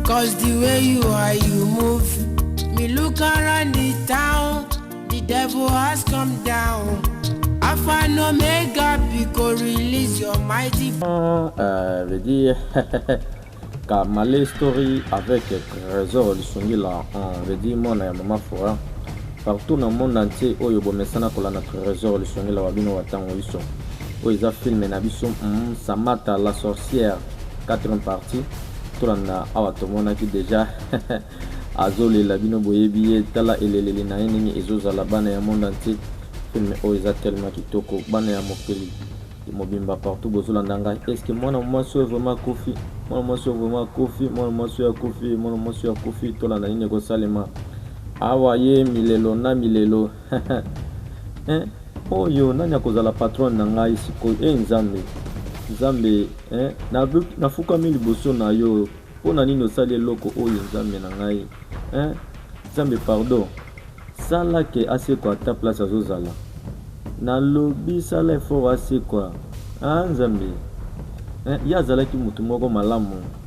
Cause the way you are, you move. Me look around the town, the devil has come down. Alpha and Omega, Pico, release your mighty. Ah, euh, veut dire. Kamale Story avec Trésor Lisungila, on veut dire mon et maman Fora. Partout dans le monde entier, oyo bomesana kolanda Trésor Lisungila wa bino wa tango iso. Oyo eza film na biso, mm, Samata la sorcière, 4 partie. tolanda awa tomonaki deja azolela bino boyebi ye tala eleleli na ye ndenge ezozala bana ya monde entier filme oyo eza tellement kitoko bana ya mokili mobimba partout bozolanda ngai eske mwana mwasi oyo vraimen akufi mwana mwasi oyo vraimen akufi mwana mwasi oyo akufi mwana mwasi oyo akufi tolanda nini ekosalema awa ye milelo na milelo eh, oyo nani akozala patronne na ngai sikoyo e eh, nzambe nzambe eh, nafukami na liboso na yo mpo na nini osali eloko oyo nzambe na ngai eh, nzambe pardon sala ke asekwa ata place azozala nalobi sala efort asekwa ah, nzambe eh, ye azalaki motu moko malamu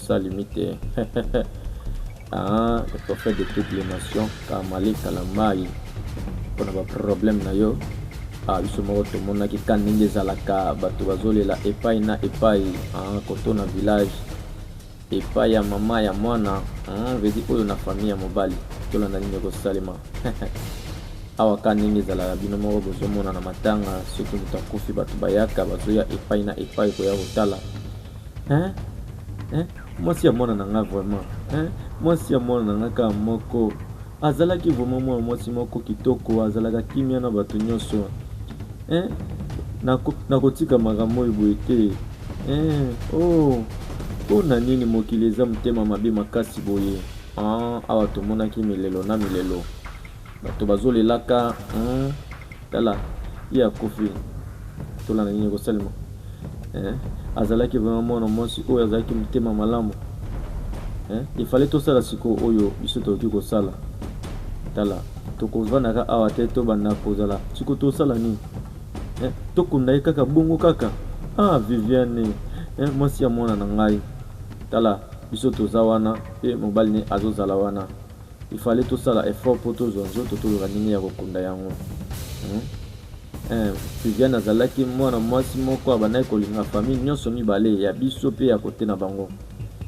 sans limite ah, le prophète de toutes les nations kamale kala mai mpo na baproblème na yo ah, biso moko tomonaki ka ndenge ezalaka bato bazolela epai na epai ah, koto na village epai ya mama ya mwana ah, vedi oyo na famille ya mobali tolanda nini ekosalema awa ka ndenge ezalaka bino moko bozomona na matanga soki moto akufi bato bayaka bazoya epai na epai koya kotala hein hein mwasi ya mwana na nga vraiment hein mwasi ya mwana na nga kaka moko azalaki vraiment mwana mwasi moko kitoko azalaka kimia na bato nyonso hein nakotika makambo oyo boye te hein oh mpo na nini mokili eza motema mabe makasi boye hein? awa tomonaki milelo na milelo bato bazolelaka hein? Tala ye akufi tolanda nini ekosalema eh? azalaki vraiment mwana mwasi oyo azalaki motema malamu eh? efale tosala sikoyo oyo biso tokoki kosala tala tokovandaka awa te tobanda kozala siko tosala nini eh? tokunda ye kaka bongo kaka ah viviane eh? mwasi ya mwana na ngai tala biso toza wana mpe mobali ne azozala wana Il fallait tosala effort mpo tozwa nzoto toluka ndenge ya kokunda yango hmm? eh, Viviane azalaki mwana mwasi moko abandaki kolinga famille nyonso mibale ya biso mpe ya kote na bango.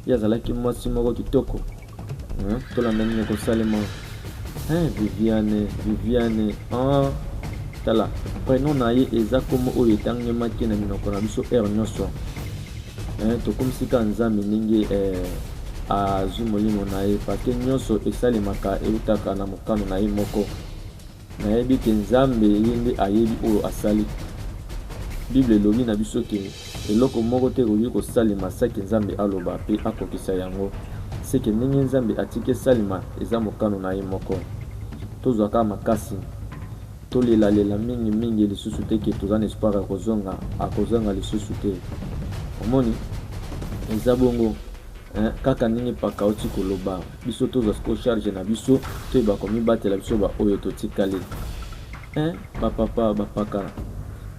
Ye azalaki mwasi moko kitoko hmm? tolanda nini ekosalema eh, Viviane Viviane ah, tala prenom na ye eza nkombo oyo etangemaki na minoko na biso heure nyonso eh, tokumisi kaka nzambe ndenge eh, azwi molimo na ye parceke nyonso esalemaka eutaka na mokano na ye moko nayebi ke nzambe ye nde ayebi oyo asali bible elobi na biso ke eloko moko te ekoki kosalema seke nzambe aloba mpe akokisa yango seke ndenge nzambe atiki esalema eza mokano na ye moko tozwaka makasi Tolela lela mingi mingi lisusu te que toza na espoir ya kozonga, akozonga lisusu te omoni eza bongo hein, kaka ndenge paka auti koloba biso tozwa siko charge na biso toyeba komibatela biso ba oyo totikali hein, ba papa ba paka.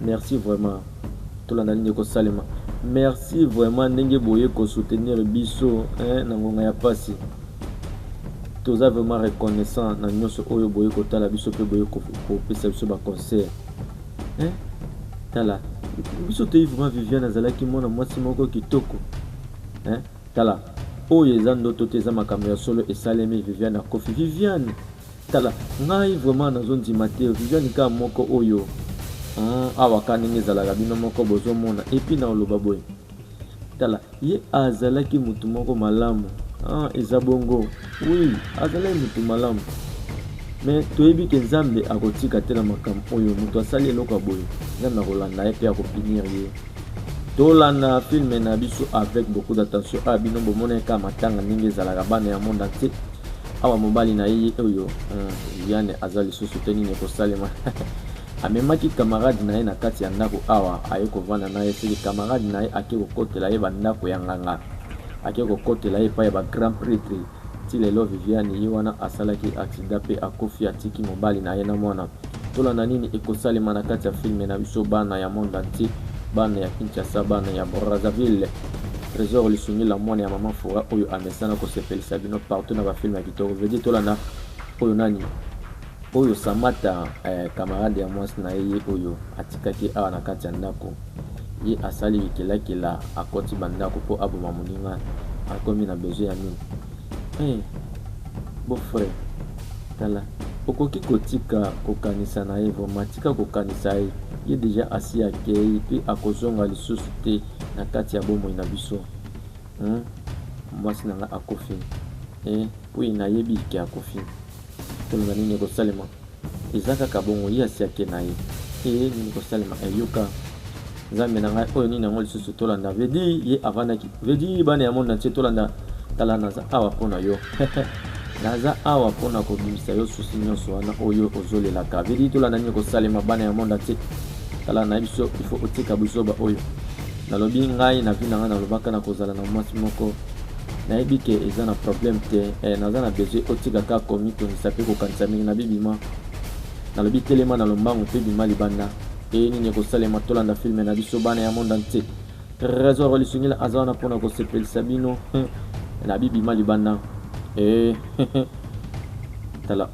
Merci vraiment tolanda nini ekosalema. Merci vraiment ndenge boye ko soutenir biso hein, na ngonga ya pasi. Toza vraiment reconnaissant na nyonso oyo boye kotala biso pe boye kopesa biso ba conseils. Hein? Tala biso toyi vraiment Viviane azalaki mwana mwasi moko kitoko. Hein? Tala oyo eza ndoto te eza makambo ya solo esalemi Viviane akofi Viviane Tala ngai vraiment nazo ndima te Viviane ka moko oyo hmm, awa ka ndenge ezalaka bino moko bozo mona epi na oloba boye tala ye azalaki mutu moko malamu ah, eza bongo oui azalaki mutu malamu me toyebi ke nzambe akotika te na makambo oyo moto asali eloko ya boye nzambe akolanda ye mpe akopunir ye tolanda filme na biso avec beaucoup d'attention oyo ah, bino bomonaka matanga ndenge ezalaka bana ya monde entier awa mobali na ye oyo viane eh, aza lisusu te nini ekosalema amemaki kamarade na ye na kati ya ndako awa aye kovanda na ye seke kamarade na ye ake kokotela ye bandako ya nganga ake kokotela ye epai ya bagrand pretre ti lelo viviane ye wana asalaki aksida mpe akufi atiki mobali na ye na mwana Tolanda nini ekosalema na kati ya filme na biso bana ya monde entier, bana ya Kinshasa, bana ya Brazzaville. Tresor Lisungila mwana ya mama Fura oyo amesana kosepelisa bino partout na ba filme ya kitoko. Vedi tolanda oyo nani? Oyo Samata eh, camarade ya mwasi na ye ye oyo atikaki awa na kati ya ndako. Ye asali bikelakela akoti bandako mpo aboma moninga akomi na besoin ya nini? Eh, beau frère Tala okoki kotika kokanisa na ye vraiment tika kokanisa ye ye deja asi akei pe akozonga lisusu te na kati ya bomoi na biso hmm? mwasi na nga akufi eh, pui nayebi ke akufi tolona nini ekosalema eza kaka bongo ye asi ake na ye e nini kosalema eyoka eh, Nzambe na ngai oyo nini yango lisusu tolanda veut dire ye avandaki veut dire bana ya monde entier tolanda tala naza awa mpo na yo naza awa mpo na kobimisa yo susi nyonso wana oyo ozolelaka veut dire tolanda nini kosalema bana ya monde entier tala na biso il faut otika buzoba oyo nalobi ngai na vi na ngai nalobaka na kozala na mwasi moko nayebi ke eza na problème te eh, naza na besoin otika kaka komitungisa mpe kokanisa mingi na bibima nalobi telema na lombangu mpe bima libanda Eye nini ekosalema tolanda filme na biso bana ya monde entier. Trésor lisungila aza wana mpona kosepelisa bino na bibima libanda e tala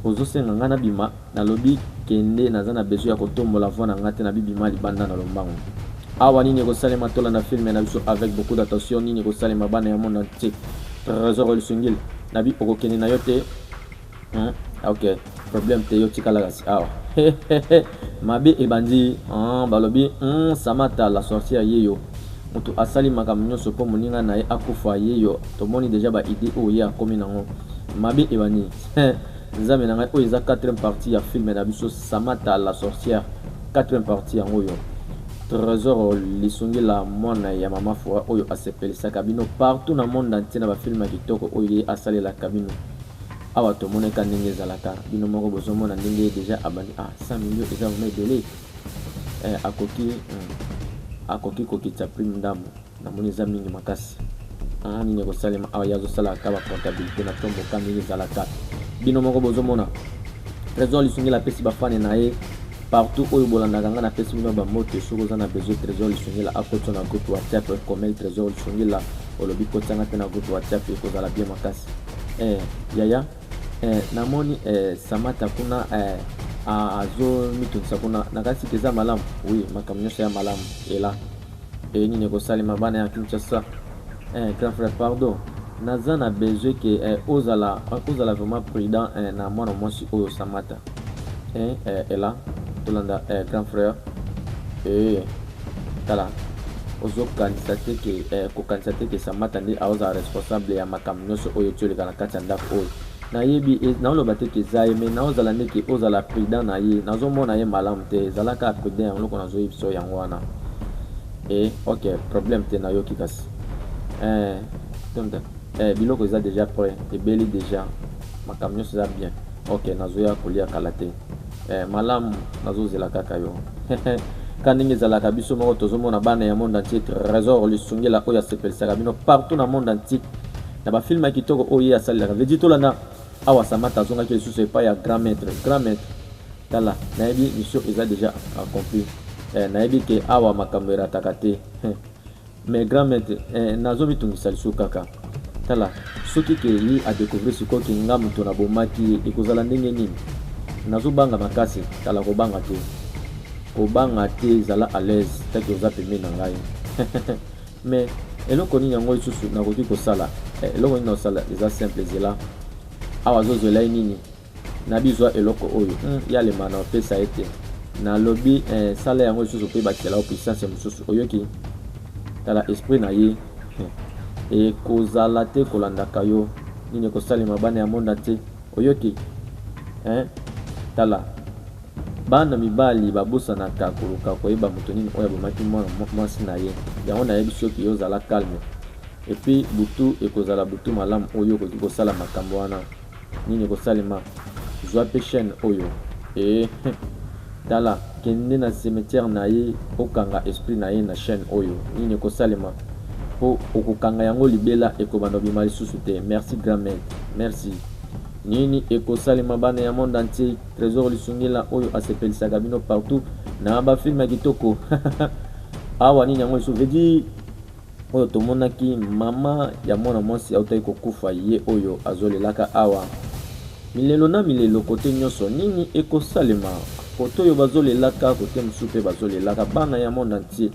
ozosenga ngai nabima nalobi kende naza na besoin ya kotombola voi na ngai te na bibima libanda na lombango awa nini ekosalema tolanda filme na biso avec beaucoup d'attention nini ekosalema bana ya monde entier trésor lisungila nabi okokende na yo te Hein? Ah, ok, problème te yo tika la kasi awa. Ah. Mabe ebandi, hein, balobi, hmm, Samata la sorcière yeyo. Mutu asali makambo nyonso mpo moninga na ye akufa yeyo. Tomoni déjà ba idée oyo ye akomi nango. Mabe ebandi. Nzambe na ngai oyo eza 4e partie ya film na biso Samata la sorcière. 4e partie yango yo. Trésor lisungi la mwana ya mama Fora oyo asepelisaka bino partout na monde entier na ba film kitoko oyo ye asalelaka bino. Awa tomona eka ndenge ezalaka bino moko bozomona ndenge deja abandi ah 100 millions eza vraiment ebele eh, akoki hmm, akoki kokitisa prime ndambo namoni eza mingi makasi ah, nini ekosalema awa ye azosalaka bacomptabilité na tomboka ndenge ezalaka bino moko bozomona trésor lisungela apesi bafane na ye partout oyo bolandaka ngai napesi bino bamoto soki oza na besoin trésor lisungela akotisa na groupe whatsapp comel trésor lisungela olobi kotianga mpe na groupe whatsapp ekozala bien makasi Eh yaya eh, namoni eh, Samata kuna eh, azomitungisa kuna na kasi eza malamu oui makambo nyonso ya malamu ela e nini ekosalema bana ya kinshasa eh, grand frère pardon naza na besoin ke eh, ozala ozala vraiment prudent eh, na mwana mwasi oyo samata eh, eh, ela tolanda eh, grand frère eh, Tala, ozo kanisa te ke eh, ko kanisa te ke Samata nde aoza responsable ya makambo nyoso oyo ti oleka na kati ya ndako oyo. Na yebi et na oloba te ke eza ye mais na ozala nde ke ozala prudent na ye. Nazo mona ye malamu te, zala kaka prudent yango loko nazo yebisa yo yango wana. Eh ok problème te na yoki kasi. Eh donc eh biloko eza dejà près, ebeli dejà. Makambo nyoso eza bien. Ok nazo ya kolia kala te. Eh malamu nazo zela kaka yo ka ndenge ezalaka biso moko tozomona bana ya monde entier trésor lisungela oyo asepelisaka bino partout na monde entier na bafilme ya kitoko oyo ye asalelaka vedi tolanda awa samata azongaki lisusu epai ya grand maître grand maître tala nayebi mission eza déjà accompli eh, nayebi ke awa makambo erataka te Mais grand maitre eh, nazo mitungisa lisu kaka tala soki ke ye a découvrir sikoyo ke nga moto na bomaki ye ekozala ndenge nini nazo banga makasi tala kobanga te kobanga te zala à l'aise taki oza pembeni na ngai mais eloko nini yango lisusu nakoki kosala eh, eloko nini nakosala eza simple zela awa azozwela ye nini Nabi zwa eloko oyo hum ya lemana opesa ye te na lobi eh, sala yango lisusu pe bakisela yo puissance mosusu oyoki tala esprit na ye eh. Ekozala te kolandaka yo nini ekosalema bana ya monde entier oyoki eh. Tala bana mibali babosanaka koluka koyeba moto nini oyo abomaki mwana mwasi na ye yango nayebisi yo kiyo zala calme epuis butu ekozala butu malamu oyo okoki kosala makambo wana nini ekosalema zwa mpe chaîne oyo ee tala kende na cimetière na ye okanga esprit na ye na chaîne oyo nini ekosalema mpo okokanga yango libela ekobanda obima lisusu te merci grand maître merci nini ekosalema bana ya monde entier trésor lisungila oyo asepelisaka bino partout na bafilme ya kitoko awa nini yango lisusu vedi Oyo tomonaki maman ya mwana mwasi autaki kokufa ye oyo azo lelaka awa milelo na milelo kote nyoso nini eko salema kote oyo bazo lelaka kote mosusu pe bazo lelaka bana ya monde entier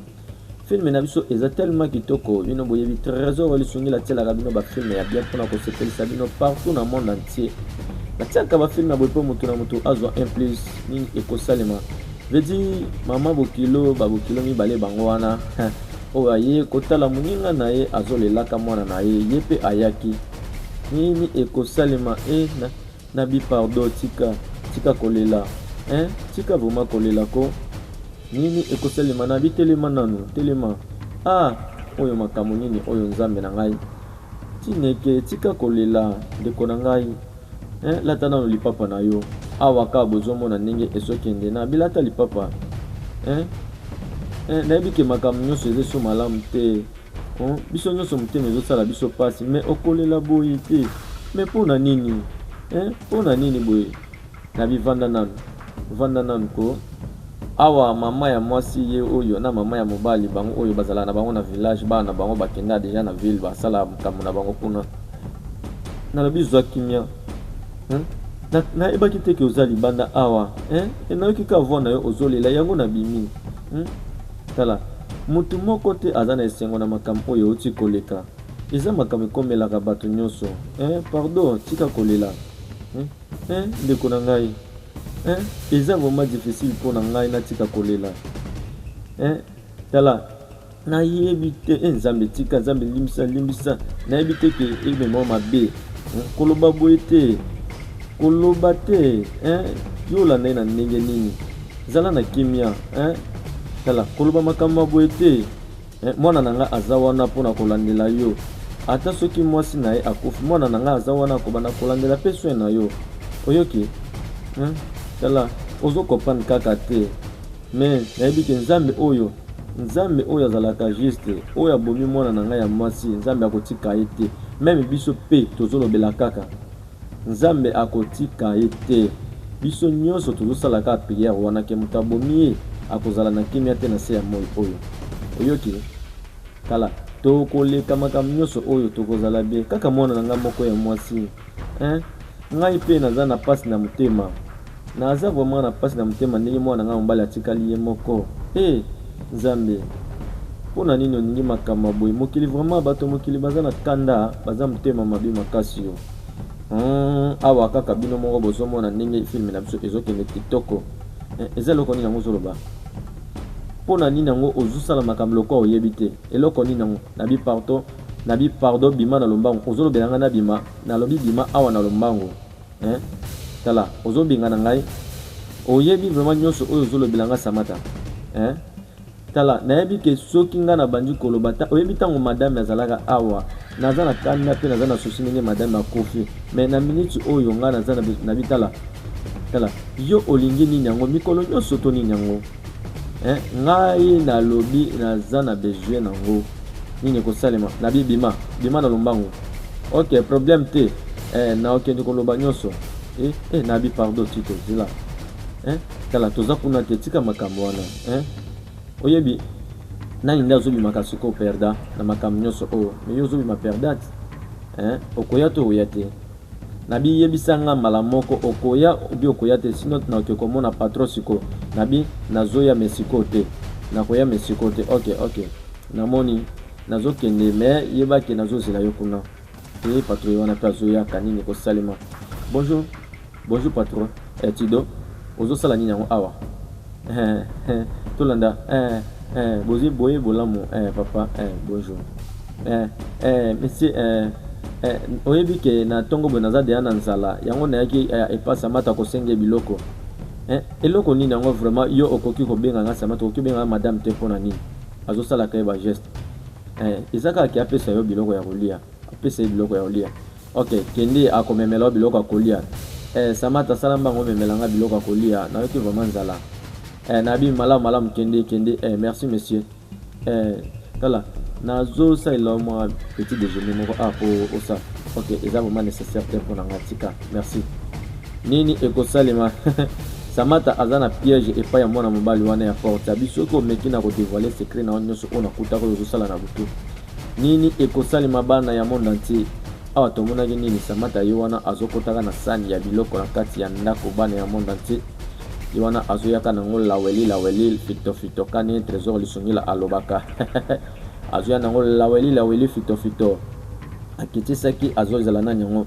film na biso eza tellement kitoko bino boyebi tresor ya lisungi la tielaka bino ba film ya bien pona ko sepelisa bino partout na monde entier na tiaka ba film ya boye po moto na moto azwa un plus nini eko salema veut dire maman bokilo ba bokilo mibale bango wana Oyo aye kotala muninga na ye azo lelaka mwana na ye ye pe ayaki nini ekosalema eh na na bi pardon tika tika kolela eh tika vraiment kolela ko nini ekosalema na bi telema nanu telema ah oyo makambo nini oyo nzambe na ngai tineke tika kolela ndeko na ngai Eh lata nano lipapa na yo awa ka bozomona ndenge ezokende na bilata lipapa eh, eh, nayebi ke makambo nyonso eza eso malamu te oh, biso nyonso motema ezosala biso mpasi me okolela boye te me mpo na nini eh, mpo na nini boye na bivanda nano vanda nano ko Awa maman ya mwasi ye oyo na maman ya mobali bango oyo bazalaka na bango na village bana na bango bakenda deja na ville basala makambo na bango kuna nalobi zwa kimia hein? na, nayebaki te ke oza libanda awa hein? e nayoki ka voi na yo ozolela yango na bimi hmm? tala motu moko te aza na esengo na makambo oyo euti koleka eza makambo ekomelaka bato nyonso hein? pardon tika kolela hmm? Eeh ndeko na ngai eeh eza vraiment difficile pona ngai natika kolela eeh tala nayebi te eeh nzambe tika nzambe limbisa limbisa nayebi te ke emema mabe hmm, koloba boye te koloba te eeh yolanda ye na ndenge nini zala na kimia eeh tala koloba makambo ya boye te Eh, mwana na nga aza wana mpo na kolandela yo ata soki mwasi na ye akufi mwana na nga aza wana akobanda kolandela mpe soin na yo oyoki hmm? tala ozo comprendre kaka te mais nayebi ke nzambe oyo nzambe oyo azalaka juste oyo abomi mwana na ngai ya mwasi nzambe akotika ye te meme biso mpe tozolobela kaka Nzambe akotika ye te. Biso nionso tozo sala kaka prière wana que moto abomi ye akozala na kimia te na se ya moyi oyo. Oyoki? Tala, toko leka makambo nionso oyo, toko zala bien. Kaka mwana na nga moko ya mwasi. Eeh ngai pe naza na pasi na motema. Naza vraiment na pasi na motema ndenge mwana na ngai ya mobali atikali ye moko eh nzambe pona nini oningi makambo ya boye mokili vraiment bato ya mokili baza na kanda baza motema mabe makasi yo hmm, awa kaka bino moko bozomona ndenge filme na biso ezokende kitoko eh, eza eloko nini yango ozoloba mpo na nini yango ozosala makambo lokola oyebi te eloko nini yango nabi pardon nabi pardon bima na lombango ozolobela ngai nabima nalobi bima awa na lombango Eeh tala ozo bengana ngai oyebi vraiment nionso oyo ozo lobela nga samata eeh tala nayebi ke soki nga nabandi koloba ta oyebi tango madame azalaka awa naza na kanda pe naza na souci ndenge madame akufi mais na minute oyo nga naza na bitala tala yo olingi nini yango mikolo nionso to nini yango eh, ngai nalobi naza na besoin nango nini ekosalema na bi bima bima na lombango ok problème te eh, na okende koloba nyonso eh, eh, na bi pardon tito zila eh, tala toza kuna te tika makambo wana eh, oyebi nani nde azobimaka sikoyo perda na makambo nyonso oyo oh, meyo ozobima perdate eh, okoya to oya te Na bi yebisa nga mbala moko okoya oubien okoya te si not na ke komona patron sikoyo na bi na zoya mais sikoyo te na koya mais sikoyo te ok ok na moni na zo kende mais yeba ke na zo zela yo kuna eh patron ye wana pe azo yaka nini ko salema bonjour bonjour patron eh tido ozo sala nini yango awa Eh eh tolanda eh eh bozi boye bolamu eh papa eh bonjour eh eh monsieur eh eh oyebi ke na tongo boye naza deya na nzala yango nayaki eh, epa samata kosenge biloko eh eloko nini yango vraiment yo okoki kobenga nga samata okoki kobenga nga madame te mpo na nini azosalaka ye bageste eh eza kaka ke apesa yo biloko ya kolia apesa ye biloko ya kolia Ok kende ako memela yo biloko ya kolia eh, Samata sala mbango memela nga biloko ya kolia nayoki vraiment nzala eh, nabi malamu malamu kende kende eh, merci monsieur eh, tala nazosalela mwa petit déjeuner moko ah, po osa ok eza vraiment nécessaire te mpo na nga tika merci nini ekosalema samata aza na piège epai ya mwana mobali wana ya porte abi soki omeki na kodevoile secret na yo nyonso oyo nakutaka oyo ozosala na butu Nini ekosalema bana ya monde entier awa tomonaki nini samata ye wana azokotaka na sani ya biloko na kati ya ndako bana ya monde entier ye wana azoyaka nango laweli laweli fito fito kani tresor lisungila alobaka azoya nango laweli laweli fito fito akitisaki azozela nani yango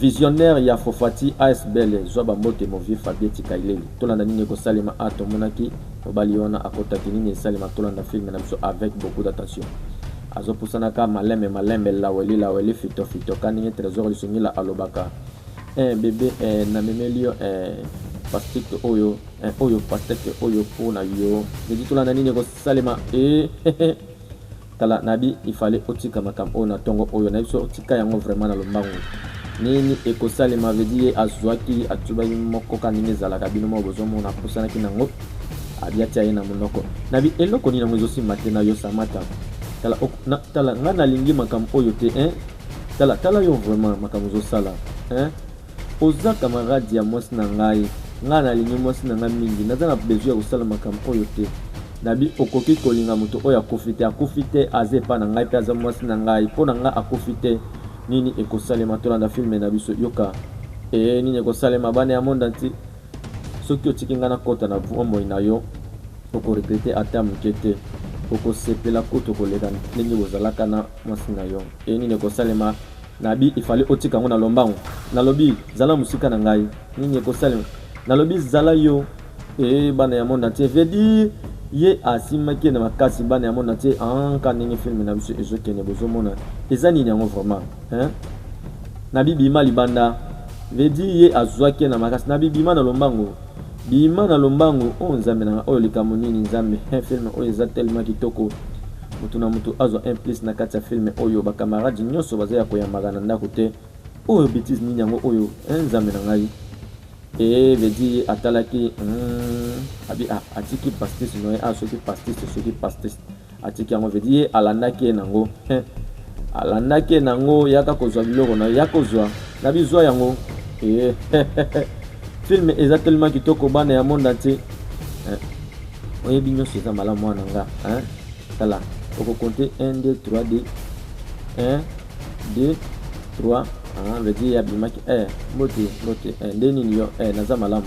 Visionnaire ya Fofati asbl zwa ba mbote mon vieux Fabie tika eleli tolanda nini eko salema ah tomonaki mobali wana akotaki nini esalema tolanda film na biso avec beaucoup d'attention azo pusana ka malembe malembe laweli laweli fito fito ka ndenge tresor lisungila alobaka eh bebe eh na memeli yo eh pasteke oyo eh, oyo pasteke oyo pona yo nedi tolanda nini eko salema eh Tala nadi il fallait otika makambo oyo na tongo oyo na biso tika yango vraiment na lombangu nini ekosalema veut dire ye azuaki atubaki moko ka ndenge ezalaka bino moko bozomona apusanaki nango abi atia ye na monoko nabi eloko nini yango ezosimba te na yo samata tala, ok, na, tala nga nalingi makambo oyo te hein? tala tala yo vraiment makambo ozosala hein? Oza camarade ya mwasi na ngai. Ngai nalingi mwasi na ngai mingi. Naza na besoin ya kosala makambo oyo te. Nabi, Okoki kolinga moto oyo akufi te. Akufi te, aza epai na ngai pe aza mwasi na ngai. Po na ngai akufi te. Nini ekosalema? Tolanda film na biso. Yoka. Ee, nini ekosalema? Bana ya monde entier. Soki otiki ngai nakota na bomoi na yo, oko regretter ata moke te. Okosepela kutu koleka ndenge bozalaka na mwasi na yo. Ee, nini ekosalema? Nabi il fallait otika yango na lombango nalobi zala musika na ngai nini ekosalema nalobi zala yo ee bana ya monde entier veut dire ye asimaki ye na makasi bana ya monde entier anka ndenge film na biso ezokende bozomona eza nini yango vraiment hein na bibima libanda veut dire ye azwaki ye na makasi na bibima na lombango Bima na lombangu oh nzambe na nga oyo likambo nini nzambe he film oyo eza tellement kitoko mutu na mutu azwa un plus na kati ya film oyo ba camarades nionso baza ya koyambaka na ndako te oyo betize nini yango oyo he nzambe na ngai ee eh, vedi atalaki hmm, abi ah, atiki pastis noye a ah, soki pastis soki pastis Atiki yango veut dire alandaki ye nango hein alandaki ye nango yaka kozwa biloko na yako zwa na bizwa yango eh, film eza tellement kitoko bana ya monde entier eh, oyebi nyonso eza malamu mwana nga hein tala okokonte 1 2 3 d 1 2 3 veut dire abimaki eh, mbote mbote eh, nde nini yo eh, naza malamu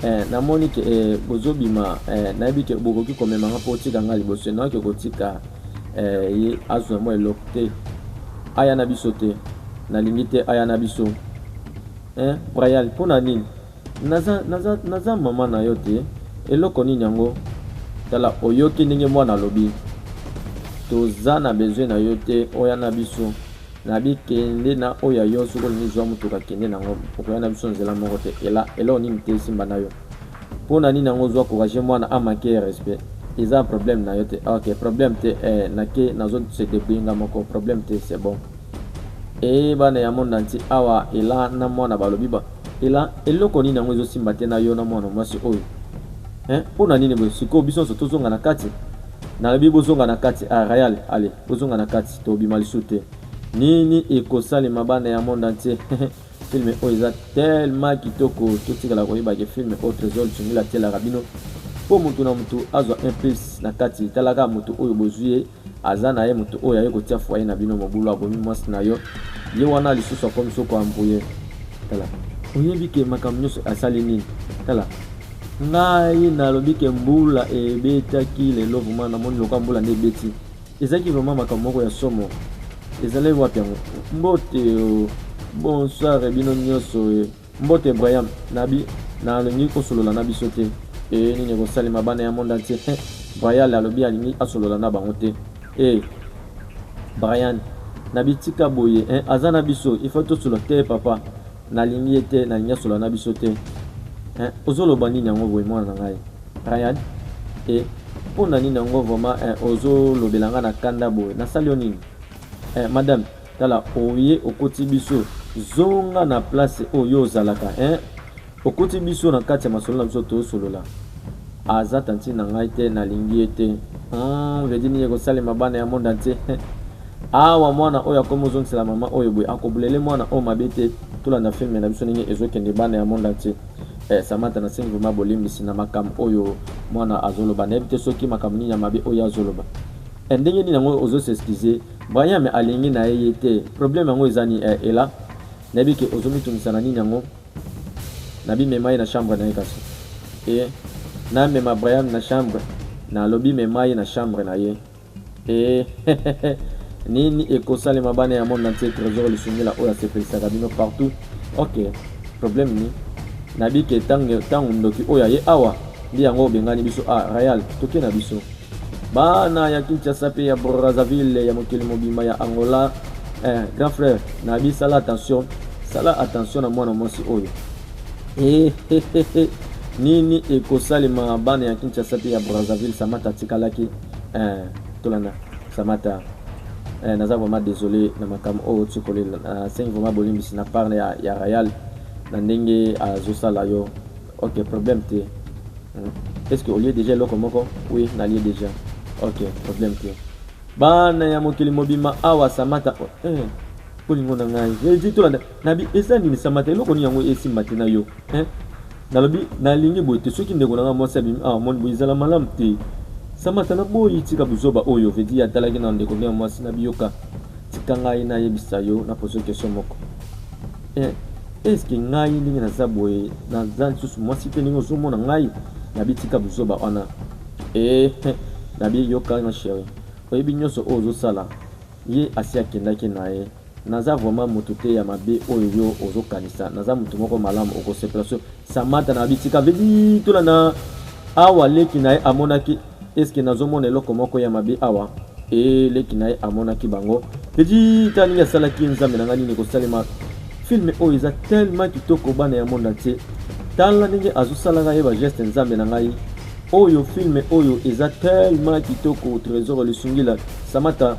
Eh, namoni ke eh, bozobima eh, nayebi ke bokoki komema nga mpo otika nga liboso enawaki okotika eh, ye azwa mwa eloko te aya na biso te nalingi te aya na biso eh, brayal mpo na nini naza, naza, naza mama na yo te eloko nini yango tala oyoki ndenge mwana alobi toza na besoin na yo te oya na biso na bi kende na oyo ya yo soki olingi zwa motuka kende na yango okoya na biso nzela moko te ela eloko nini te esimba na yo mpo na nini yango ozwa courage mwana amake respect eza problème na yo te ah, ok problème te eh, nake nazo se debrouiller nga moko problème te c'est bon e eh, bana ya monde entier awa ela na mwana balobi ba ela eloko nini yango ezosimba te na yo na mwana mwasi oyo eh, mpo na nini boye sikoyo biso nyonso tozonga na kati nalobi bozonga na kati a ah, real ale bozonga na kati Tobima lisusu te. Nini ekosalema bana ya monde entier? film oyo eza tellement kitoko totikala koyeba ke film oyo Tresor Tsungila atielaka bino mpo motu na motu azwa un plus na kati talaka motu oyo bozwi ye aza na ye motu oyo aye kotia foye na bino mobulu abomi mwasi na yo ye wana lisusu akomi soko ambruye tala oyebi ke makambo nyonso asali nini tala ngai nalobi ke mbula ebetaki lelo vraimen namoni loka mbula nde ebeti Ezalaki vraiment makambo moko ya somo. Ezalaki wapi yango? Mbote oh, bonsoir eh, bino nyoso eh. Mbote Brian, nabi nalingi kosolola na biso te. Eh, nini ekosalema bana ya monde entier? Eh, Brian alobi alingi asolola na bango te. Eh, Brian, nabi tika boye eh, aza na biso, il faut tosolola te papa. Nalingi ye te nalingi asola na biso te eh, ozoloba nini yango boye mwana na ngai Ryan eh, mpo na nini yango vraiment eh, ozolobela ngai na kanda boye nasali yo nini eh, madame tala oye okoti biso zonga na place oyo ozalaka eh, okoti biso na kati ya masolo na biso tosolola Aza tantine na ngai te nalingi ye te Hum, vedi nini ekosalema bana ya monde entier awa mwana oyo akomi ozongisela mama oyo boye akobulele mwana oyo mabe te tolanda filme na biso ndenge ezokende bana ya monde entier eh, samata nasengi vrema bolimbisi na makambo oyo mwana azoloba nayebi te soki makambo nini ya mabe oyo azoloba eh, ndenge nini yango ozoseskize brian me alingi na ye ye te probleme yango eza nini eh, ela nayebi ke ozomitungisa na nini yango Na bi mema ye na chambre na ye kasi ee Na mema Brian na chambre na lobi mema ye na chambre na ye ee hehehe Nini eko salema bana ya monde entier Tresor Lisungila oyo asepelisaka bino partout ok Problème ni na bi ke tangu tangu ndoki oyo aye awa nde yango obengani biso ah Rayal toke na biso. Bana ya Kinshasa pe ya Brazzaville ya mokili mobimba ya Angola eh, grand frère na bi sala attention sala attention na mwana mwasi oyo eh, eh, eh, eh. nini ekosalema bana ya Kinshasa pe ya Brazzaville Samata atikalaki eh, tolanda Samata eh, naza vraiment désolé na makambo oyo tikolela nasengi vraiment bolimbisi na part ya, ya Royal na ndenge azosala yo Ok problème te est ce que olie déjà eloko moko oui nalie déjà ok problème te bana ya mokili mobima awa samata oh, eh, bolingo na ngai edi tolanda nabi eza nini samata eloko nini yango esimba te na yo eh? nalobi nalingi boye te soki ndeko na ngai mwasi abimi awa ah, moni boye ezala malamu te samata na boyi tika buzoba oyo vedi atalaki na ndeko nde ya mwasi nabiyoka tika ngai nayebisa yo na poso kestion moko eh, eske ngai ndenge naza boye naza lisusu mwasi te ndenge ozomona ngai nabitika buzoba wana eh, eh, nabi yoka ma chérie oyebi nyonso oyo ozosala ye asi akendaki na ye naza vraiment moto te ya mabe oyo yo ozokanisa naza moto moko malamu okosepela so samata na bitika vedi tolanda awa leki na ye amonaki Est ce que nazo mona eloko moko ya mabe awa? Ee, leki na ye amonaki bango. Petit, tala ndenge asalaki nzambe na ngai nini ekosalema. Film oyo eza tellement kitoko bana ya monde entier. Tala ndenge azosalaka ye ba geste nzambe na ngai. Oyo film oyo eza tellement kitoko Tresor Lisungila Samata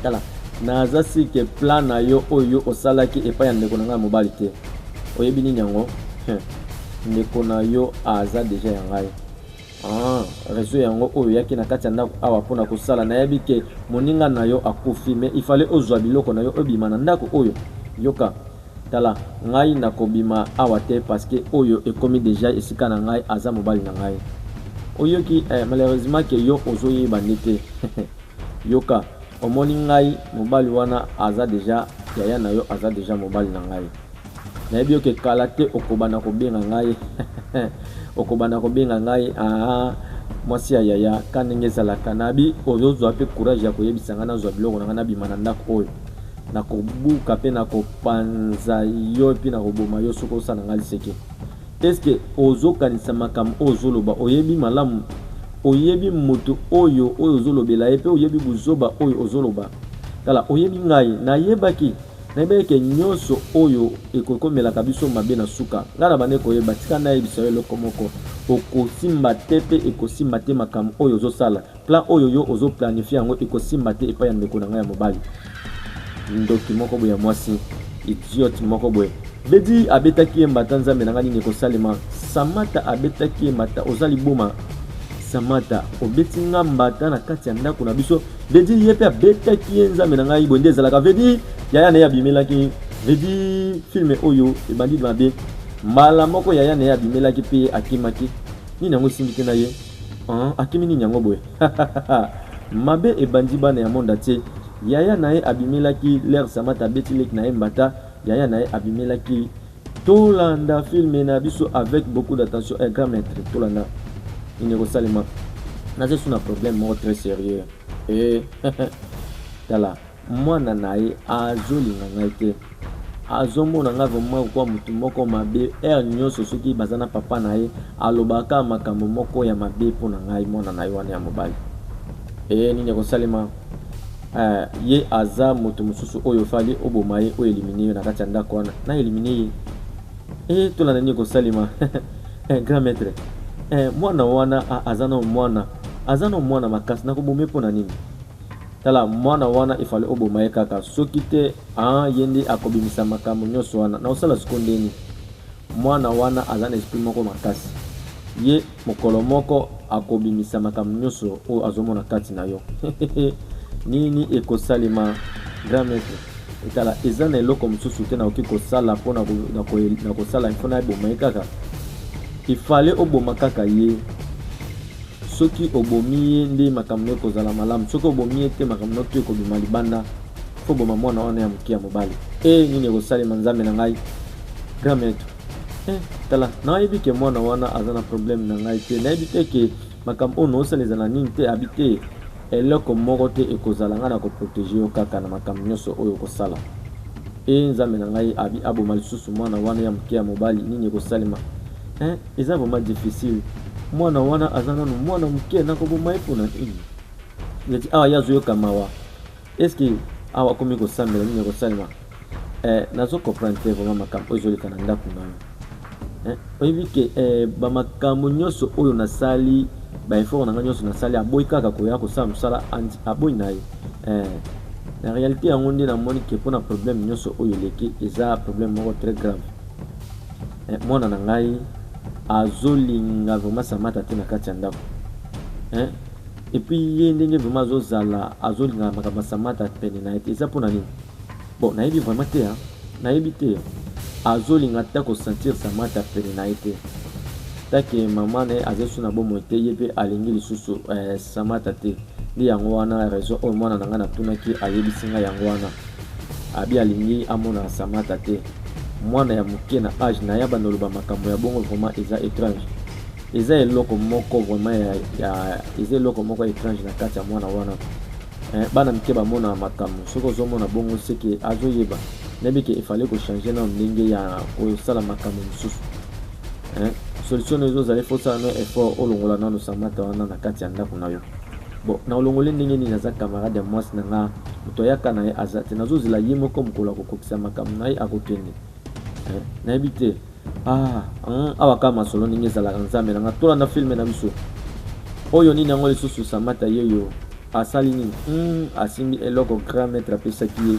tala naza sike plan na yo oyo osalaki epai ya ndeko na ngai ya mobali te oyebi nini yango ndeko na yo aza deja ya ngai Ah, reseau yango oyo yaki na kati ya ndako awa pona kosala nayebi ke moninga na yo akufi mais il fallait ozwa biloko na yo obima na ndako oyo yoka tala ngai nakobima awa te parce que oyo ekomi deja esika na ngai aza mobali na ngai oyoki eh, malheureusement ke yo ozoyeba nde te yoka omoni ngai mobali wana aza deja yaya na yo aza deja mobali na ngai Nayebi yo ke kala te okobanda kobenga ngai okobanda kobenga ngai aa mwasi ya yaya ka ndenge ezalaka nabi ozozwa mpe courage ya koyebisa ngai nazwa biloko na ngai nabima na ndako oyo nakobuka mpe nakopanza yo mpe nakoboma yo soki osala ngai liseke eske ozokanisa makambo oyo ozoloba oyebi malamu oyebi moto oyo oyo ozolobela ye mpe oyebi buzoba oyo ozoloba tala oyebi ngai nayebaki Nayebi eke nyonso oyo ekokomelaka biso mabe na suka. Ngai nabandaki koyeba, tika nayebisa yo eloko moko, okosimba te pe ekosimba te makambo oyo ozosala. Plan oyo yo ozo planifier yango ekosimba te epai ya ndeko na ngai ya mobali. Ndoki moko boye ya mwasi, idiote moko boye. Bedi abetaki ye mbata, Nzambe na ngai nini ekosalema? Samata abetaki ye mbata, oza liboma Samata, obeti ngai mbata na kati ya ndako na biso. veut dire ye mpe abetaki ye nzambe na ngai boye nde ezalaka veut dire yaya na ye abimelaki veut dire filme oyo ebandi mabe mbala moko yaya na ye abimelaki mpe ye akimaki nini yango esimbi te na ye akimi nini yango boye mabe ebandi bana ya monde atie yaya na ye abimelaki lere samata abeti leki na ye mbata yaya na ye abimelaki Tolanda film na biso avec beaucoup d'attention un grand maître tolanda nini ekosalema naza su na problème moko très sérieux e tala mwana na ye azolinga ngai te azomona ngai vraimen kokuwa motu moko mabe heure nyonso soki baza na papa na ye alobaka makambo moko ya mabe mpo na ngai mwana na ye wana ya mobali e nini ekosalema Eh, ye aza moto mosusu oyo fali oboma ye o elimine yo na kati ya ndako wana na elimine ye e eh, tolanda nini kosalema eh, grand maître eh, mwana wana aza na mwana aza na mwana makasi nakobome mpo na nini tala mwana wana efale oboma ye kaka soki te ah, ye nde akobimisa makambo nyonso wana na osala siko ndeni mwana wana aza na esprit moko makasi ye Mokolo moko akobimisa makambo nyoso oyo azomona kati na yo nini ekosalema grand maitre etala eza na eloko mosusu te nakoki kosala mpo na kosala mpo na eboma ye kaka ifale oboma kaka ye soki obomi ye nde makambo no ekozala malamu soki obomi ye te makambo no to ekobima libanda fo oboma mwana wana ya moke ya mobali e nini ekosalema nzambe na ngai grand maitre Eh, tala nayebi ke mwana wana aza na problème na ngai te nayebi te ke makambo oyo naosala eza na nini te abi te eloko moko te ekozala ngai na koprotege yo kaka na makambo nyonso oyo okosala e nzambe na ngai abi aboma lisusu mwana wana ya moke ya mobali nini ekosalema eh, eza vraiment difficile mwana wana aza nanu mwana moke nakoboma ye mpona nini neti awa ye azoyoka mawa Est ce que awa akomi kosambela nini ekosalema? Eh, nazo comprendre te vraiment makambo oyo ezoleka na ndako na yo. Eh, oyebi ke eh, ba makambo nyonso oyo nasali ba effort na ngai nyonso nasali aboyi kaka koya kosala mosala aboyi na ye eh, na réalité yango nde namoni ke mpo na problème nyonso oyo eleki eza problème moko très grave eh, mwana na ngai azolinga vraiment samata te na kati ya ndako eh, Et puis ye ndenge vraiment azo zala azo linga makambo ya Samata pene na ye te eza pona nini? Bon nayebi vraiment te hein. Nayebi te. Azo linga ata ko sentir Samata pene na ye te. Take maman na ye aza lisusu na bomoi te ye pe alingi lisusu eh, Samata te. Nde yango wana raison oyo mwana na ngai natunaki ayebisi ngai yango wana. Abi alingi amona Samata te. Mwana ya moke na age na ye abanda oloba makambo ya bongo vraiment eza étrange. eza eloko moko vraiment ya, ya eza eloko moko étrange na kati ya mwana wana eh, bana mike bamona makambo soki ozomona bongo seke azoyeba nayebi ke efale kochange nao ndenge ya kosala makambo mosusu eh, solution no ezozala ifo osala no effort olongola nano samata wana na kati ya ndako na yo bon na olongoli ndenge nini aza camarade ya mwasi na nga moto ayaka na ye aza te nazozela ye moko mokolo akokokisa makambo na ye akokende eh, nayebi te Ah, hum, awa kaka masolo ndenge ezalaka nzambe na nga tolanda filme na biso oyo nini yango lisusu samata yeyo asali nini hum, asimbi eloko grand maître apesaki ye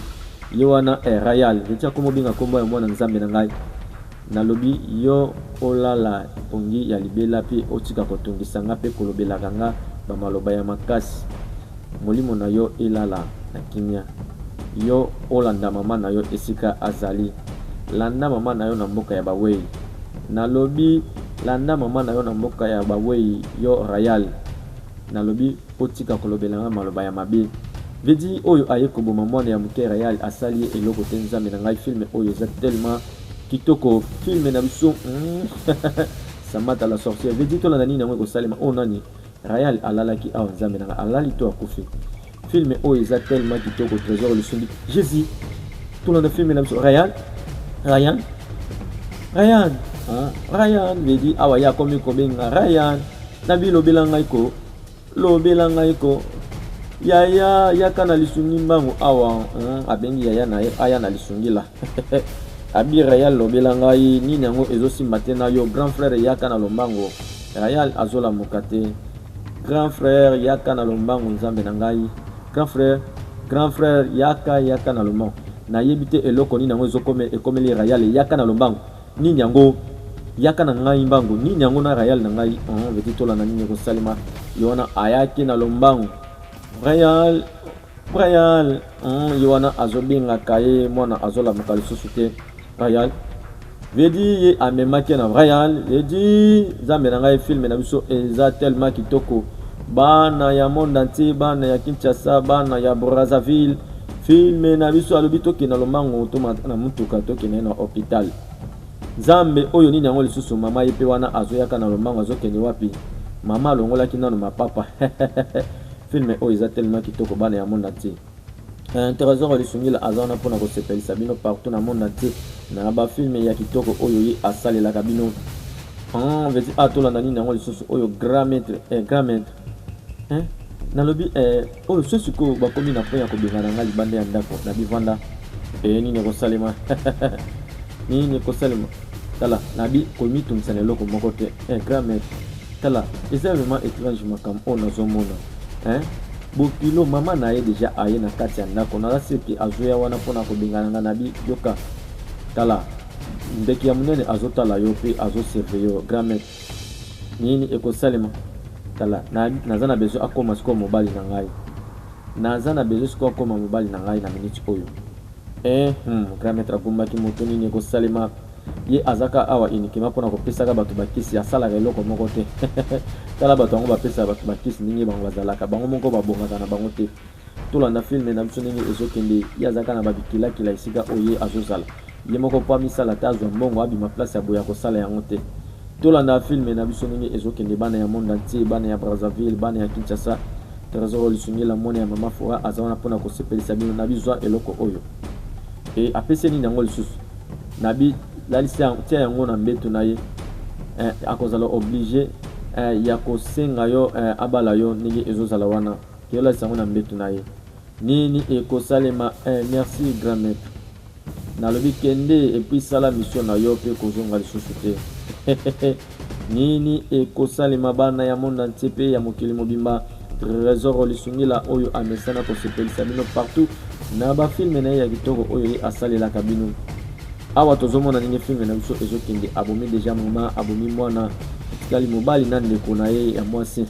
ye wana eh, rayal eti akoma obenga nkombo ya mwana nzambe na ngai nalobi yo olala pongi ya libela mpe otika kotungisa nga mpe kolobelaka nga bamaloba ya makasi Molimo na yo elala na kimia. Yo olanda mama na yo esika azali. Landa mama na yo na mboka ya bawei. Nalobi landa mama na yo na mboka ya bawei yo Rayal. Nalobi otika kolobela ngai maloba ya mabe. Vedi oyo aye koboma mwana ya muke Rayal asali ye eloko te nzambe na ngai film oyo eza tellement kitoko film na biso Samata la sorcière Vedi tolanda nini yango ekosalema oyo nani Ryan alalaki awa nzambe nanga alali to akufi film oyo eza tellement kitoko trésor lisumbi jésus tolanda film na biso Ryan Ryan Ryan hein? Ryan vedi awa ya komi kobenga Ryan na bilobela ngai ko lobela ngai ko yaya yaka na lisungi mbangu awa hein? abengi yaya na ye aya na lisungi la Abi Real lobela ngai nini yango ezo simba te na yo grand frère yaka na lombango Real azolamuka te grand frère yaka na lombango nzambe na ngai grand frère grand frère yaka yaka na lombango nayebi te eloko nini yango ezokome ekomeli Real yaka na lombango nini yango yaka na ngai mbango nini yango na Real na ngai on veti tolanda nini ekosalema ye wana ayaki na lombango Real Brian mm, ye wana azobengaka ye mwana azolamuka lisusu te Brian vedi ye amemaki na Brian vedi nzambe na ngai filme na biso eza tellement kitoko bana ya monde entier bana ya Kinshasa bana ya Brazzaville filme na biso alobi tokende na lomango tomata na motuka tokende na hôpital nzambe oyo nini yango lisusu mama ye mpe wana azoyaka na lomango azokende wapi mama alongolaki nano mapapa Film oyo eza tellement kitoko bana ya monde entier. Eh, Tresor ya Lisungila aza wana mpona kosepelisa bino partout na monde entier na ba film ya kitoko oyo ye asalelaka bino. Ah, veti ah, tolanda nini yango lisusu oyo grand maître eh, grand maître eh, nalobi eh, oyo so sikoyo bakomi na point ya kobengana ngai libanda ya ndako na bivanda eh, nini ekosalema nini ekosalema tala nabi komitungisa na eloko moko te eh, grand maître Tala eza vraiment etrange makambo oyo nazomona hein? Bokilo mama na ye deja aye na kati ya ndako naza sur ke azoya wana mpona kobengana nga na bi yoka tala ndeke ya monene azotala yo mpe azosurveille yo grand maître nini ekosalema tala na, naza na besoin akoma sikoyo mobali na ngai naza na besoin sikoyo akoma mobali na ngai na minute oyo eh, hmm, grand maître agumbaki moto nini ekosalema Ye azaka awa uniquement pona kopesaka bato bakisi, asalaka eloko moko te tala bato yango bapesaka bato bakisi ndenge bango bazalaka, bango moko babongaka na bango te. Tolanda filme na biso ndenge ezokende, ye azaka na babikilakila esika oyo ye azozala ye moko po amisala ata azwa mbongo abima place ya boye akosala yango te. Tolanda filme na biso ndenge ezokende bana ya monde entier, bana ya Brazzaville, bana ya Kinshasa, Tresor Lisungila mwana ya mama Fora aza wana pona kosepelisa bino, nabi zwa eloko oyo. Et apesi ye nini yango lisusu? Nabi lalisi tia yango na mbetu na ye eh, akozala oblige eh, ya kosenga yo eh, abala yo ndenge ezozala wana ke olalisa yango na mbetu na ye nini ekosalema eh, merci grand maître nalobi kende epuis sala mission na yo mpe kozonga lisusu te Nini ekosalema bana ya monde entier pe ya mokili mobimba? Tresor Lisungila oyo amesana kosepelisa bino partout na ba filme na ye ya kitoko oyo ye asalelaka bino. Awa tozomona ndenge filme na biso ezokende, abomi deja mama, abomi mwana, etikali mobali na ndeko na ye ya mwasi.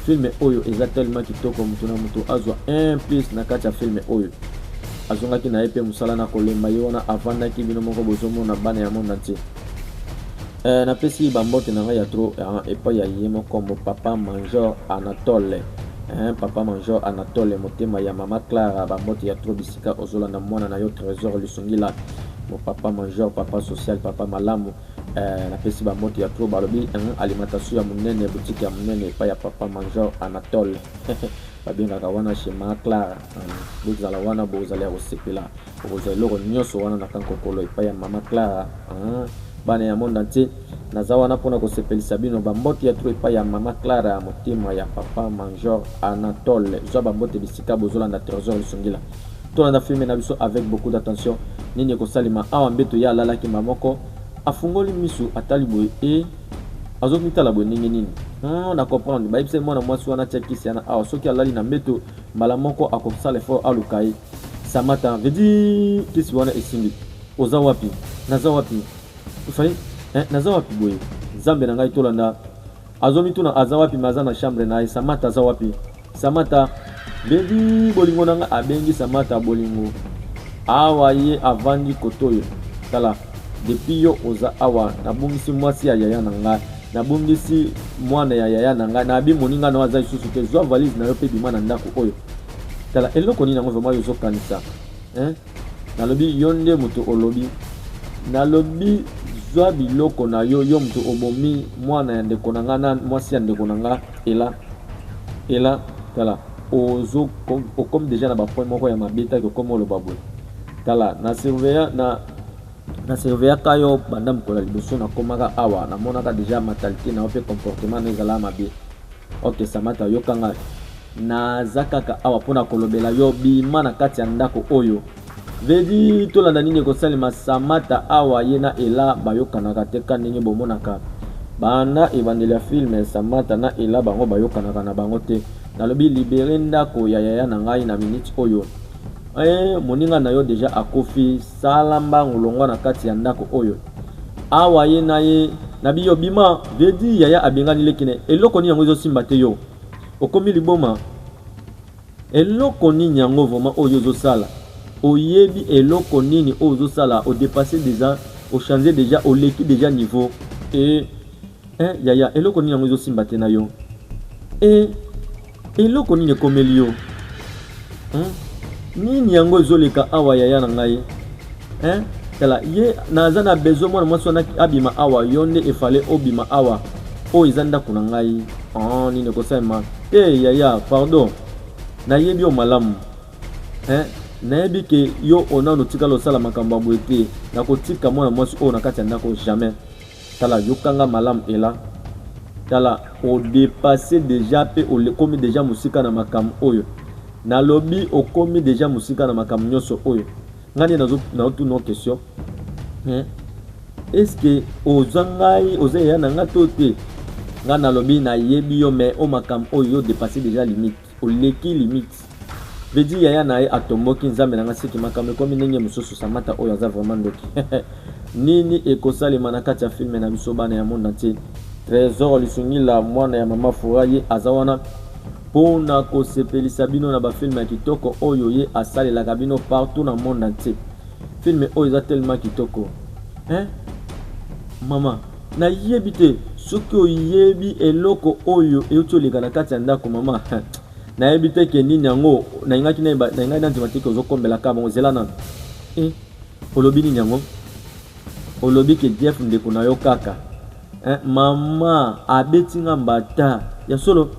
filme oyo eza tellement kitoko, moto na moto azwa un plus na kati ya filme oyo. Azongaki na ye pe mosala na kolemba, ye wana avandaki, bino moko bozomona bana ya monde entier. Eh, napesi bambote na ngai ya tro eh, epai ya ye moko mo papa major anatole eh, papa major anatole motema ya mama clara bambote ya tro bisika ozolanda mwana na yo trésor lisungila mo papa major papa social papa malamu eh, napesi bambote ya tro balobi eh, alimentation ya monene boutique ya monene epai ya papa major anatole babengaka wana chez mama clara eh, bozala wana bozali ya kosepela Okozwa eloko nyoso wana na Kankokolo epai ya Mama Clara. Aah, bana ya monde entier, naza wana mpo na kosepelisa bino. Ba mbote ya trop epai ya Mama Clara, motema ya Papa Manjor Anatole. Zwa ba mbote bisika bozolanda Tresor Lusungila. Tolanda filme na biso avec beaucoup d'attention. Nini ekosalema awa? Mbeto ye alalaki mba moko, afungoli misu, atali boye et azomitala boye ndenge nini? Hum, na comprendre. Bayebisa ye mwana mwasi wana atia kisi yana awa, soki alali na mbeto, mbala moko akosala effort aluka ye. Samata veut dire kisi wana esimbi oza wapi naza wapi fai eh, naza wapi boye nzambe na ngai tolanda azomituna aza wapi me aza na chambre na ye samata aza wapi samata bebi bolingo na ngai abengi samata bolingo awa ye avandi kotoyo tala depuis yo oza awa nabungisi mwasi ya yaya na ngai nabungisi mwana ya yaya na ngai nabi moninga na yo aza lisusu te zwa valise na yo mpe bima na ndako oyo Tala eloko nini yango vraiment yo ozokanisa hein? Nalobi yo nde moto olobi, nalobi zwa biloko na yo, yo moto obomi mwana ya ndeko na nga na mwasi ya ndeko na nga ela ela. Tala ozo okomi deja na bapoint moko ya mabe taki okomi oloba boye. Tala na surveya na na surveyaka yo banda mokolo ya liboso nakomaka awa, namonaka deja mentalite na yo mpe comportement na yo ezalaka mabe. Ok Samata, yoka ngai Naza kaka awa mpo na kolobela yo, bima na kati ya ndako oyo. Vedi, tolanda nini ekosalema? Samata awa ye na Ela bayokanaka te ka ndenge bomonaka. Banda ebandeli ya film, Samata na Ela bango bayokanaka na bango te. Nalobi libere ndako ya yaya na ngai na minute oyo. Eh, moninga na yo deja akufi, sala mbangu longwa na kati ya ndako oyo. Awa ye na ye, nabi yo bima, Vedi yaya abengani leki ne, eloko nini yango ezosimba te yo? Okomi liboma eloko nini yango vraiment oyo ozo sala oyebi eloko nini oyo ozo sala o depasser deja o changer deja oleki deja niveau et eh yaya eloko nini yango ezosimba te na yo e eloko nini ekomeli yo Hein? Nini yango ezoleka awa yaya na ngai? Hein? Tala ye naza na besoin mwana mwasi wana abima awa yo nde efale obima awa oyo eza ndako na ngai oh, nini ekosalema te hey, yaya pardon nayebi yo malamu hein? nayebi ke yo onano otikala osala makambo ya boye te nakotika mwana mwasi oyo na kati ya ndako jamais Tala yoka nga malamu Ella tala o depasser dejà pe okomi dejà mosika na makambo oyo na lobi okomi dejà mosika na makambo nionso oyo nga nde nazo nazo tuna o question hein est ce que oza ngai oza yaya na nga to te nga na lobi na yebi yo mais o makambo oyo yo depasser dejà limite Oleki limite. Vedi yaya na ye atomboki nzambe na nga siki makambo ekomi ndenge mosusu samata oyo aza vraiment ndoki nini ekosalema na kati ya filme na biso bana ya monde entier trésor lisungila mwana ya mama fura ye aza wana mpo na kosepelisa bino na bafilme ya kitoko oyo ye asalelaka bino partout na monde entier filme oyo eza tellement kitoko hein? mama Nayebi te soki oyebi eloko oyo euti oleka na kati ya ndako mama nayebi te ke nini yango nalingaki nalingai nandima te ke ozokombelaka bango zela nano e eh, olobi nini yango olobi ke jeff ndeko na yo kaka eh, mama abeti nga mbata ya solo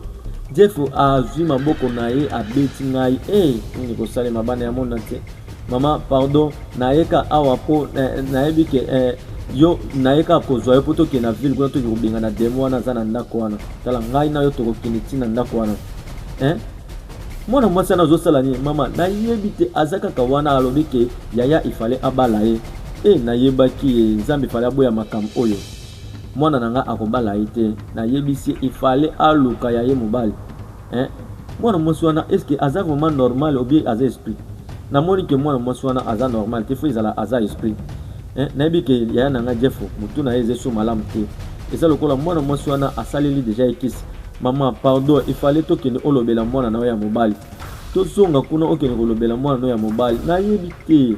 jeff azwi maboko na ye abeti ngai e eh, nini kosalema bana ya mona te Maman pardon nayeka awa po nayebi ke eh, yo naye kaka kozwa yo mpo tokende na ville kuna toki kobengana demo wana aza na ndako wana tala ngai na yo tokokende ti na ndako wana eh? mwana mwasi wana azosala nini mama nayebi te aza kaka wana alobi ke yaya ifale abala ye e nayebaki ye nzambe ifale aboya makambo oyo mwana na ngai akobala ye te nayebisi ye ifale aluka ya ye mobali Hein? Mwana mwasi wana est-ce que aza vraiment normal ou bien aza esprit? Namoni que mwana mwasi wana aza normal te, faut ezala aza esprit. Hein? Nayebi que yaya na nga Jeff mutu na ye eza so malamu te. Eza lokola mwana mwasi wana asaleli deja ye kisi. Mama, pardon, il fallait tokende olobela mwana na yo ya mobali. Tozonga kuna okende kolobela mwana na yo ya mobali. Nayebi te.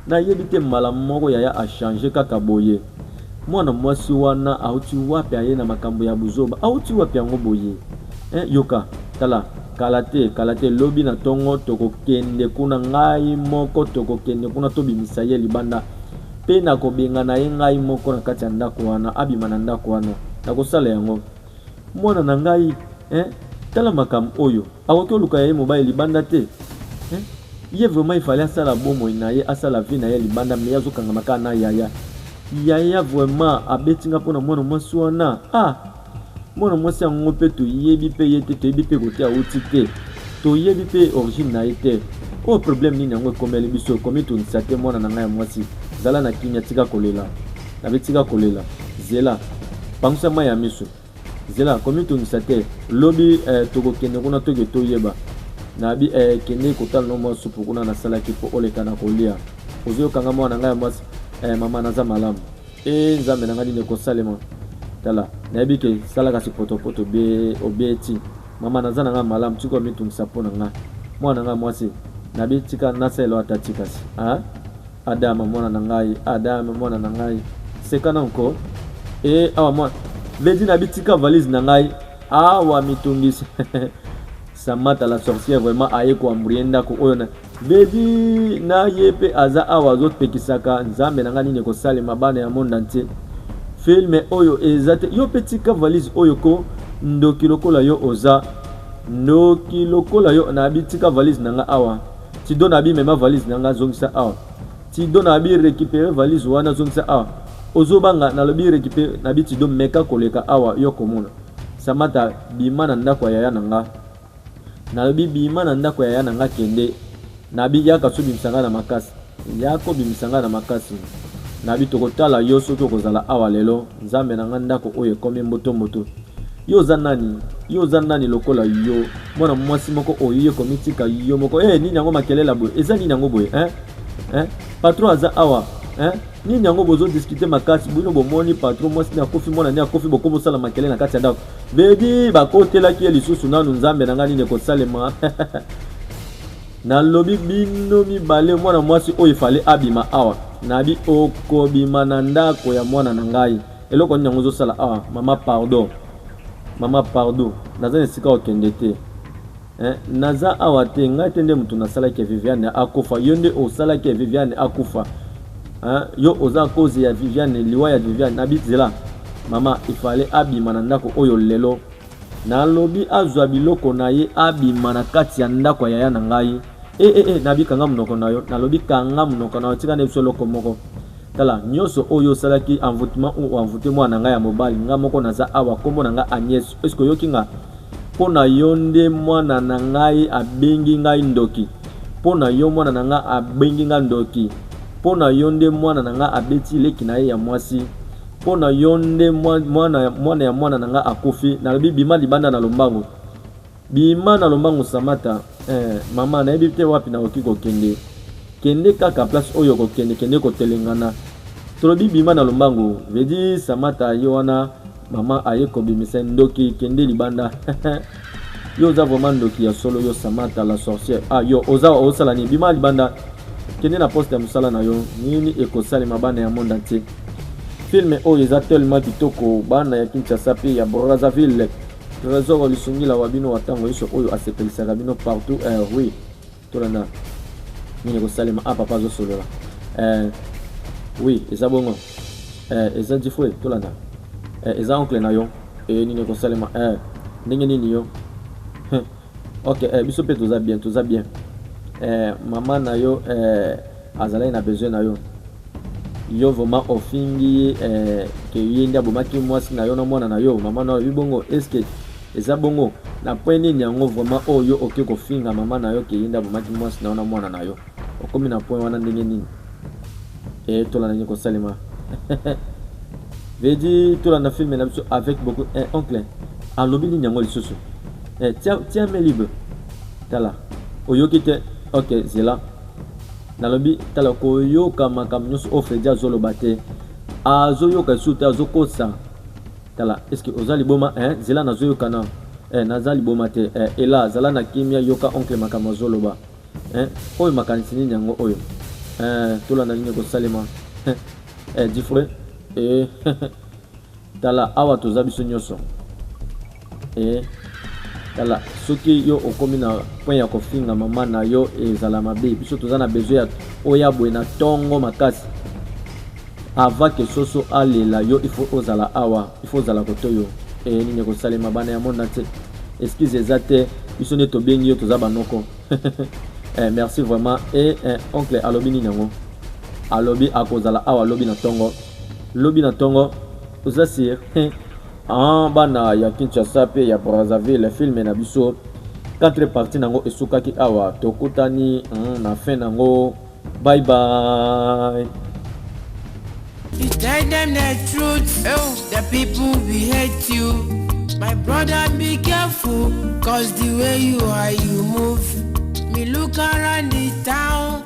Nayebi te mbala moko yaya a changer kaka boye. Mwana mwasi wana auti wapi aye na makambo ya buzoba auti wapi yango boye eh, yoka tala kala te kala te lobi na tongo tokokende kuna ngai moko tokokende kuna tobimisa ye libanda pe nakobengana ye ngai moko na kati ya ndako wana abima na ndako wana nakosala yango Mwana na ngai eh, tala makambo oyo. Akoki oluka ya ye mobali libanda te eh? Ye vraiment il fallait asala bomoi na ye, asala vie na ye libanda, mais azo kangama kaka na yaya. Yaya vraiment abeti nga mpo na mwana mwasi wana ah! Mwana mwasi yango mpe toyebi mpe ye te, toyebi mpe kote awuti te, toyebi mpe origine na ye te. Oyo oh, problème nini yango ekomeli biso, ekomitungisa te mwana na ngai ya mwasi? Zala na kimia, tika kolela. Gaby tika kolela zela pangusa mai ya miso zela komitungisa te lobi eh, tokokende kuna toke toyeba nabi eh, kende kotala no mwa supu kuna nasalaki mpo oleka na kolia ozoyoka nga mwana ngai ya mwasi eh, mama naza malamu e eh, nzambe na ngai nini ekosalema tala nayebi ke sala kasi potopoto obeti mama naza na ngai malamu tika omitungisa mpo na ngai mwana ngai mwasi nabi tika nasalelo ata tikasi ah? Adama mwana na ngai Adama mwana na ngai seka na nko e awa mwana Lady na bitika valise na ngai awa mitungisi Samata la sorcière vraiment aye koambrie ndako oyo na Lady na ye mpe aza awa azopekisaka nzambe na ngai nini ekosalema bana ya monde entier filme oyo eza te yo mpe tika valise oyo ko ndoki lokola yo oza ndoki lokola yo nabitika valise na ngai awa Tido na bi mema valise na nga zongisa awa. Tido na bi récupérer valise wana zongisa awa. Ozo banga na lobi récupérer na bi Tido meka koleka awa yo komona. Samata bima na ndako ya yaya na nga. Na lobi bima na ndako ya yaya na nga kende. Na bi yaka so bimisa nga na makasi. Yako bimisa nga na makasi. Na bi tokotala yo soki okozala awa lelo. Nzambe na nga ndako oyo ekomi mboto mboto. Yo oza nani? Yo oza nani lokola yo? Mwana mwasi moko oye komitika yo moko. Eh, nini yango makelela boye? Eza nini yango boye? Hein? Hein? Patron aza awa. Hein? Nini yango bozo discuter makasi? Bino bomoni patron mwasi ni akofi mwana ni akofi boko bosala makelela na kati ya ndako. Baby bakotelaki ye lisusu nanu nzambe na ngai nini ekosalema? nalobi bino mibale mwana mwasi oyo efale abima awa nabi okobima na ndako ya mwana na ngai Eloko nini yango ozosala awa mama pardon mama pardon naza na esika okende te eh, naza awa te ngai te nde moto nasalaki ya viviane akufa yo nde osalaki ya viviane akufa eh, yo oza koze ya viviane liwa ya viviane na bizela mama ifale abima na ndako oyo lelo nalobi azwa biloko na ye abima na kati ya ndako ya yaya na ngai ee eh, eh, eh, nabikanga monoko na yo nalobi kanga monoko na yo tika na biso eloko moko Tala, nionso oyo yo osalaki, envoutement ou envoute mwana na ngai ya mobali, nga moko naza awa, kombo na nga Agnes, est ce que oyoki nga? Po na yo nde mwana na ngai abengi ngai ndoki, po na yo mwana na nga abengi nga ndoki, po na yo nde mwana na nga abeti leki na ye ya mwasi, po na yo nde mwana ya mwana na nga akufi, nalobi bima libanda na lombangu. Bima na lombangu samata eh, mama nayebi te wapi nakoki kokende kende kaka place oyo kokende kende kotelengana tolobi bima na lombangu vedi samata ye wana mama aye kobimisa ndoki kende libanda yo oza vraiment ndoki ya solo yo samata la sorcière ah yo oza osala nini bima libanda kende na poste ya mosala na yo nini ekosalema bana ya monde entier filme oyo eza tellement kitoko bana ya kinshasa mpe ya brazzaville Tresor lisungila wa bino wa ntango yonso oyo asepelisaka bino partout eh, oui tolanda nini ekosalema a ah, papa azosolola eh, oui eza bongo eh, eza difue tolanda eh, eza oncle na yo eh, nini ekosalema eh, ndenge nini yo ok eh, biso mpe toza bien toza bien eh, mama na yo eh, Azalaki na besoin na yo yo vraiment ofingi ye eh, ke ye nde abomaki mwasi na yo na mwana na yo mama na yo alobi bongo eske eza bongo na point nini yango vraiment oyo oh, yo oke kofinga mama na yo ke ye nde abomaki mwasi na yo na mwana na yo okomi na point wana ndenge nini e eh, tolanda nini kosalema vedi tolanda filme na biso avec beaucoup eh, oncle alobi nini yango lisusu eh, tiamelibe tala oyoki te ok zela Nalobi tala koyoka makambo nyonso oyo Fredi azoloba te azoyoka lisusu te azokosa tala eske oza liboma eh, zela nazoyoka na eh, naza liboma te eh, ela zala na kimia yoka oncle makambo azoloba eh, oyo makanisi nini yango oyo eh, tolanda nini ekosalema eh, eh, difre eh, Tala awa toza biso nyoso. Eh, tala soki yo okomi na point ya kofinga mama na yo ezala mabe. Biso toza na besoin ya oya boye na tongo makasi. Avant que soso alela yo il faut ozala awa, il faut ozala koto yo. Eh, nini ekosalema bana ya monde entier. Excuse eza te, biso nde tobengi yo toza banoko. eh, merci vraiment. Et eh, oncle alobi nini yango? Alobi akozala awa lobi na tongo. Lobi na tongo oza sur hein? Aah bana ya Kinshasa pe ya Brazzaville film na biso 4 partie nango esukaki awa tokutani hmm, na fin nango bye bye You tell them the truth, oh, the people we hate you. My brother, be careful, cause the way you are, you move. Me look around the town.